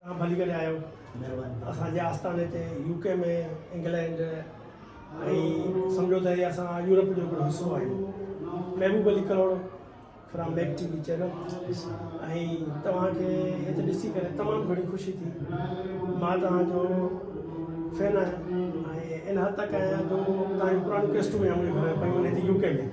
توهان ڀلي ڪڏهن آيو اسان جي آستاني تي يو ڪي ۾ انگلينڊ ۽ سمجهو ته هي اسان يورپ جو هڪڙو حصو آهيون محبوب علي ڪروڙ فرام ميڪ ٽي وي چينل ۽ توهان کي هت ڏسي ڪري تمام گهڻي خوشي ٿي مان توهان جو فين آهيان ۽ ان حد تڪ آهيان جو توهان جون پراڻيون ڪيسٽون منهنجي گهر ۾ پيون آهن هتي يو ڪي ۾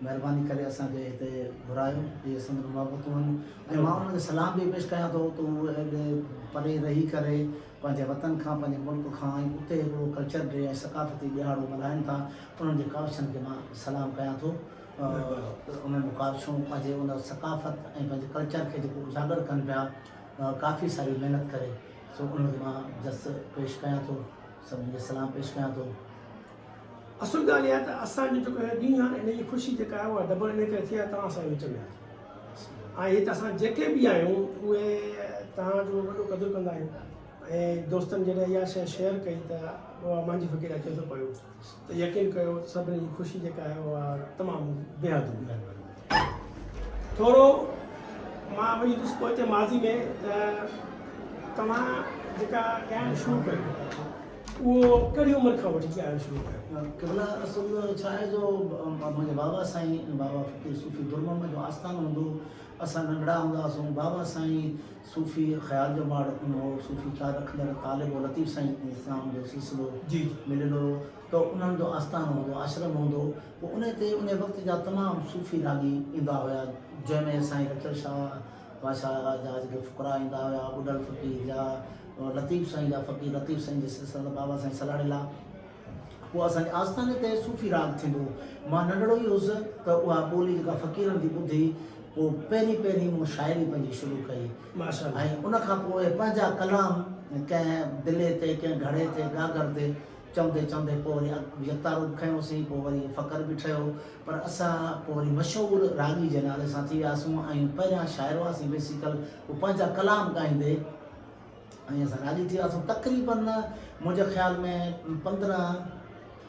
مهرباني ڪري اسان کي هتي گهرايو اهي سندن محبتون آهن ۽ مان انهن کي سلام به پيش ڪيان ٿو ته اهي ايڏي پري رهي ڪري پنهنجي وطن کان پنهنجي ملڪ کان ۽ اتي هڪڙو ڪلچر ڊي ۽ ثقافتي ڏهاڙو ملهائين ٿا انهن جي ڪاوشن کي مان سلام ڪيان ٿو ته انهن جون ڪاوشون پنهنجي ان ثقافت ۽ پنهنجي ڪلچر کي جيڪو اجاگر ڪن پيا ڪافي ساري محنت ڪري سو انهن کي مان جس پيش ڪيان ٿو سڀني کي سلام پيش ڪيان ٿو. اصل ڳالهه اها ته اسان جو جيڪو هي ڏينهن آهي نه انهيء خوشي جيڪا آهي اها ڊبل انهيء ڪري ٿي آهي توهان اسان جي وچ ۾ آهيو ۽ هت اسان جيڪي به آهيون اهي توهان جو وڏو قدر ڪندا آهيون ۽ دوستن جڏهن اها شيء شيئر ڪئي ته اها مانجهي فقير اچي ٿو پيو ته يقين ڪيو سڀني جي خوشي جيڪا آهي اها تمام بيحد هوندي ٿورو مان وڃي ڏس پهچي ماضي ۾ ته توهان جيڪا ڳائڻ شروع ڪيو اهو ڪهڙي عمر کان وٺي ڳائڻ شروع ڪيو قبلا اصل ڇا آهي جو منهنجي بابا سائين بابا فقير صوفي در محمد جو آستان هوندو اسان ننڍڙا هوندا هئاسون بابا سائين صوفي خيال جو ماڙ رکندو هو صوفي خيال رکندڙ طالب هو لطيف سائين اسلام جو سلسلو جي مليل هو ته انهن جو آستان هوندو آشرم هوندو پوء انهيء تي انهيء وقت جا تمام صوفي راڳي ايندا هيا، جنهن ۾ سائين لطل شاهه بادشاهه آغا جا جيڪي فقراء ايندا هيا، ٻڍڙ فقير جا لطيف سائين جا فقير لطيف سائين جي سلسلن جا بابا سائين سلاڙيلا. پوء اسان جي آستاني تي صوفي راڳ ٿيندو هو. مان ننڍڙو ئي هوس ته اها ٻولي جيڪا فقيرن جي ٻڌي پوء پهرين پهرين مون شاعري پنهنجي شروع ڪئي ۽ ان کان پوء پنهنجا ڪلام ڪنهن دلي تي ڪنهن گهڙي تي گاگهر تي چوندي چوندي پوء وري يڪتا روپ کنيو سين، پوء وري فقر به ٺهيو، پر اسان پوء وري مشهور راڳي جي نالي سان ٿي وياسون ۽ پهريان شاعر هئاسين بيسيڪل، پوء پنهنجا ڪلام ڳائيندي ائين اسان راڳي ٿي وياسون، تقريباً منهنجي خيال ۾ پندرهن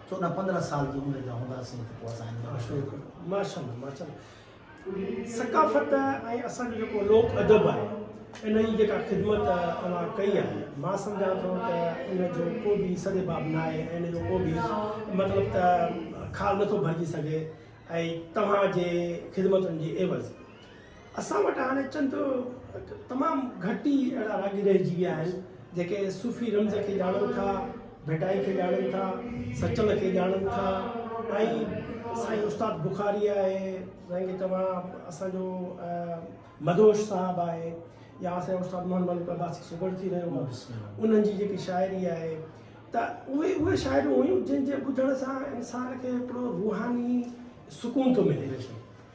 چوڏهن پندرهن سال جي عمر جا هونداسين ته پوء اسان ان ۾ مشهور ٿي وياسون. ماشاءالله ماشاءالله ثقافت ۽ اسان جو جيڪو لوڪ ادب آهي ان جي جيڪا خدمت اوهان ڪئي آهي مان سمجهان ٿو ته ان جو ڪو به سد باب نه آهي ۽ ان جو ڪو به مطلب ته خال نٿو ڀرجي سگهي ۽ توهان جي خدمتن جي عيوض اسان وٽ هاڻي چند تمام گهٽ ئي اهڙا راڳي رهجي ويا آهن جيڪي صوفي رمز کي ڄاڻن ٿا ڀٽائي کي ڄاڻن ٿا سچل کي ڄاڻن ٿا ۽ سائين استاد بخاري آهي سائين کي توهان اسانجو مدهوش صاحب آهي يا اسان استاد محمد ملڪ عباسي سگهڙ ٿي رهيو آهي انهن جي جيڪي شاعري آهي ته اهي اهي شاعريون هيون جن جي ٻڌڻ سان انسان کي هڪڙو روحاني سڪون ٿو ملي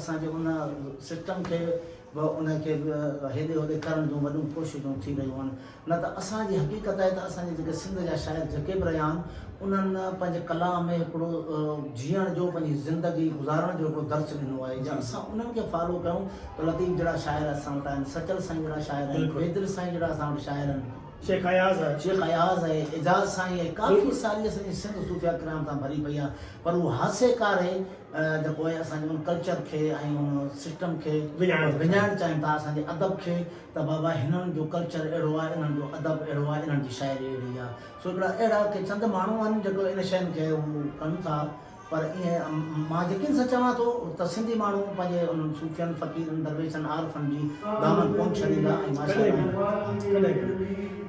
اسان جي ان سسٽم کي به ان کي به هيڏي هوڏي ڪرڻ جون وڏيون ڪوششون ٿي رهيون آهن نه ته اسان جي حقيقت آهي ته اسان جي جيڪي سنڌ جا شاعر جيڪي به رهيا آهن انهن پنهنجي ڪلام ۾ هڪڙو جيئڻ جو پنهنجي زندگي گذارڻ جو هڪڙو درس ڏنو آهي جي اسان انهن کي فالو ڪيون ته لطيف جهڙا شاعر اسان وٽ آهن سچل سائين جهڙا شاعر آهن بيدل سائين جهڙا اسان وٽ شاعر آهن شيخ اياز آهي شيخ اياز آهي اعجاز سائين آهي ڪافي ساري اسان جي سنڌ صوفيا ڪرام تان ڀري پئي آهي پر هو هاسيڪار آهي ته پوء اسان جي ان ڪلچر کي ۽ ان سسٽم کي وڃائڻ چاهيون ٿا اسان جي ادب کي ته بابا هنن جو ڪلچر اهڙو آهي انهن جو ادب اهڙو آهي انهن جي شاعري اهڙي آهي سو هڪڙا اهڙا ڪي چند ماڻهو آهن جيڪو ان شين کي هو ڪن ٿا پر ائين مان يقين سان چوان ٿو ته سنڌي ماڻهو پنهنجي انهن صوفين فقيرن درويشن عارفن جي دامن ڪونه ڇڏيندا ۽ ماشاءالله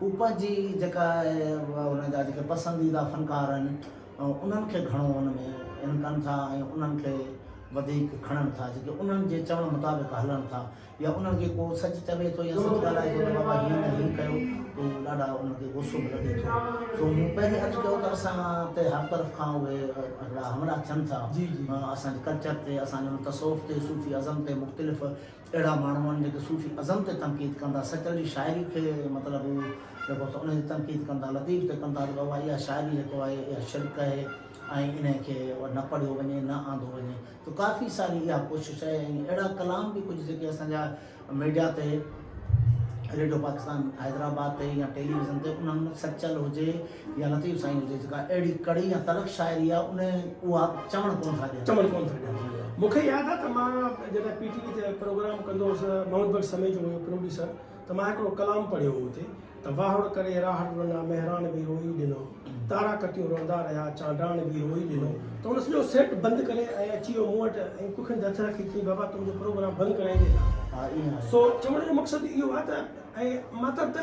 هو پنهنجي جيڪا هن جا جيڪي پسنديده فنڪار آهن انهن کي گهڻو ان ۾ ان ڪن ٿا ۽ انهن کي وڌيڪ کڻن ٿا جيڪي انهن جي چوڻ مطابق هلن ٿا يا انهن کي ڪو سچ چوي ٿو يا سچ ڳالهائي ٿو ته بابا هيئن نه هيئن ڪيو ته هو ڏاڍا انهن کي غصو به لڳي ٿو سو مون پهرين عرض ڪيو ته اسان تي هر طرف کان اهي هڪڙا حملا ٿين ٿا اسان جي ڪلچر تي اسان جي ان تصوف تي صوفي ازم تي مختلف اهڙا ماڻهو آهن جيڪي صوفي ازم تي تنقيد ڪن ٿا، سچل جي شاعري کي مطلب هو جيڪو سو ان تي تنقيد ڪن ٿا، لطيف تي ڪن ٿا ته بابا اها شاعري جيڪو آهي اها شرڪ آهي ۽ انهي کي نه پڙهيو وڃي نه آندو وڃي ته ڪافي ساري اها ڪوشش آهي ۽ اهڙا ڪلام به ڪجهه جيڪي اسان جا ميڊيا تي ريڊيو پاڪستان حيدرآباد تي يا ٽيليويزن تي انهن سچل هجي يا لطيف سائين هجي جيڪا اهڙي ڪڙي يا تلخ شاعري آ انهي اها چوڻ ڪونه ٿا ڏين. چوڻ ڪونه ٿا ڏين. مون کي ياد آ ته مان جڏهن پي ٽي وي تي پروگرام ڪندو هوس محمد بخش سميجو هيو پروڊيوسر ته مان هڪڙو ڪلام پڙهيو هو اتي ته واهڙ ڪري راهڙ رنا مهراڻ به روئي ڏنو تارا ڪتيون روندا رهيا چانڊاڻ به روئي ڏنو ته هن سڄو سيٽ بند ڪري ۽ اچي ويو مون وٽ ۽ ڪکن تي هٿ رکي چيائين بابا تون جو پروگرام بند ڪرائيندين ها سو چوڻ جو مقصد اهو آ ته ۽ مطلب ته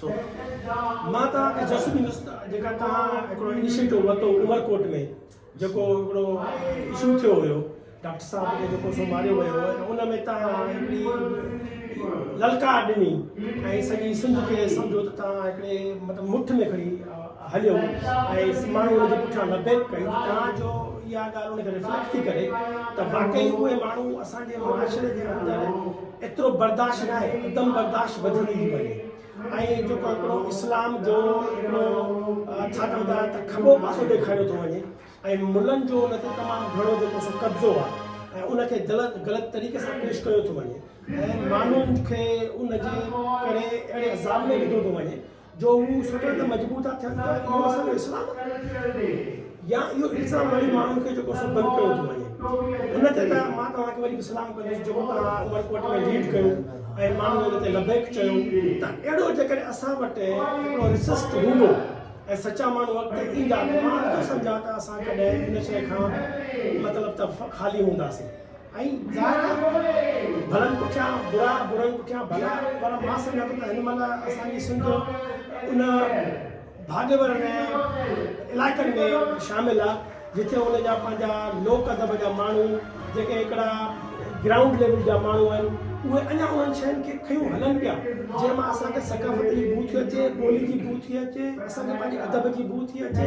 سو مان توهان کي جس ڏيندس ته جيڪا توهان هڪڙو انيشيٽو ورتو عمرڪوٽ ۾ جيڪو هڪڙو اشو ٿيو هيو ڊاڪٽر صاحب کي جيڪو سو ماريو ويو هو ان ۾ توهان هڪڙي للڪار ڏني ۽ سڄي سنڌ کي سمجهو ته توهان هڪڙي مطلب مٺ ۾ کڻي هليو ۽ ماڻهو ان جي پٺيان لبيڪ ڪئي تان جو اها ڳالهه ان کي ريفليڪٽ ٿي ڪري ته واقعي اهي ماڻهو اسان جي معاشري جي اندر ايترو برداشت نه آهي عدم برداشت وڌندي ٿي وڃي ۽ جو ڪو اسلام جو هڪڙو ڇا چوندا ته کٻو پاسو ڏيکاريو ٿو وڃي ۽ ملن جو ان تي تمام گهڻو جيڪو سو قبضو آهي ۽ ان کي غلط غلط طريقي سان پيش ڪيو ٿو وڃي ۽ ماڻهن کي ان جي ڪري اهڙي عذاب ۾ وڌو ٿو وڃي جو مون سوچيو ته مجبور ٿا ٿين ته اهو اسان جو اسلام آهي يا اهو الزام هڻي ماڻهن کي جيڪو سو بند ڪيو ٿو وڃي ان تي ته مان توهان کي وري به سلام ڪندس جيڪو توهان عمر ڪوٽ ۾ ليڊ ڪيو ۽ ماڻهن ان تي لبيڪ چيو ته اهڙو جيڪڏهن اسان وٽ هڪڙو رسسٽ هوندو ۽ سچا ماڻهو اڳتي ايندا ته مان نٿو سمجهان ته اسان ڪڏهن ان شيء کان مطلب ته خالي هونداسين ائين ظاهر آهي ڀلن پٺيان برا برن پٺيان ڀلا پر مان سمجهان ٿو ته هن مهل اسان جي سنڌ ان ڀاڳيور علائقن ۾ شامل آهي جتي ان جا پنهنجا لوڪ ادب جا ماڻهو جيڪي هڪڙا گرائونڊ ليول جا ماڻهو آهن اهي اڃا انهن شين کي کيون هلن پيا جنهن مان اسان کي ثقافت جي بو ٿي اچي ٻولي جي بو ٿي اچي اسان کي پنهنجي ادب جي بو ٿي اچي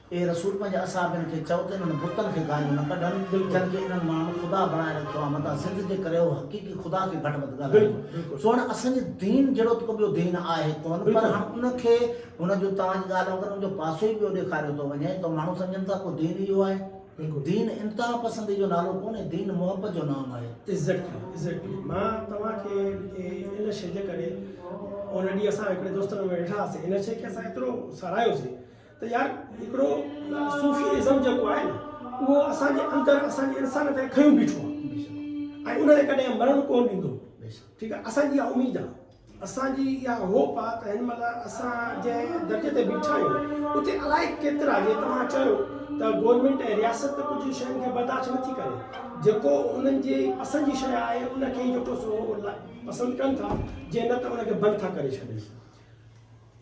اي رسول پنهنجي اصحابين کي چئو ته انهن بتن کي گاليون نه ڪڍن جن کي انهن ماڻهن خدا بڻائي رکيو آهي متان ضد جي ڪري هو حقيقي خدا کي گهٽ وڌ ڳالهائين ٿو هاڻي اسان جي دين جهڙو ته ڪو ٻيو دين آهي ڪونه پر هاڻ ان کي هن جون توهان جي ڳالهه وانگر ان جو پاسو ئي ٻيو ڏيکاريو ٿو وڃي ته ماڻهو سمجهن ٿا ڪو دين اهو آهي دين انتها پسندي جو نالو ڪونهي دين محبت جو نام آهي. Exactly Exactly مان توهان کي ان شئي جي ڪري ان ڏينهن اسان هڪڙي دوستن ۾ ويٺا هئاسين ان شئي کي اسان ايترو ساراهيوسين ته يار هڪڙو صوفي ازم جيڪو آهي نه اهو اسان جي اندر اسان جي انسان تي کنيو بيٺو آهي ۽ ان کي ڪڏهن مرڻ ڪون ڏيندو ٺيڪ آهي اسان جي اها اميد آهي اسان جي اها هوپ آهي ته هن مهل اسان جنهن درجي تي بيٺا آهيون اتي الائي ڪيترا جي توهان چيو ته گورنمينٽ ۽ رياست ڪجهه شين کي برداشت نٿي ڪري جيڪو انهن جي پسند جي شيء آهي ان کي جيڪو سو پسند ڪن ٿا جي نه ته ان کي بند ٿا ڪري ڇڏين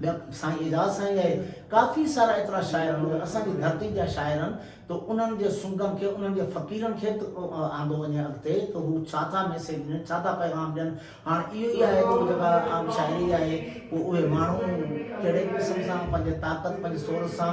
ٻيا سائين اعجاز سائين اهي ڪافي سارا ايترا شاعر مگر اسان جي ڌرتي جا شاعر آهن ته انهن جي سنگن کي انهن جي فقيرن کي آندو وڃي اڳتي ته هو ڇا ٿا ميسيج ڏين ڇا ٿا پيغام ڏين هاڻ اهو ئي آهي ته جيڪا عام شاعري آهي پوء اهي ماڻهو ڪهڙي قسم سان پنهنجي طاقت پنهنجي سورس سان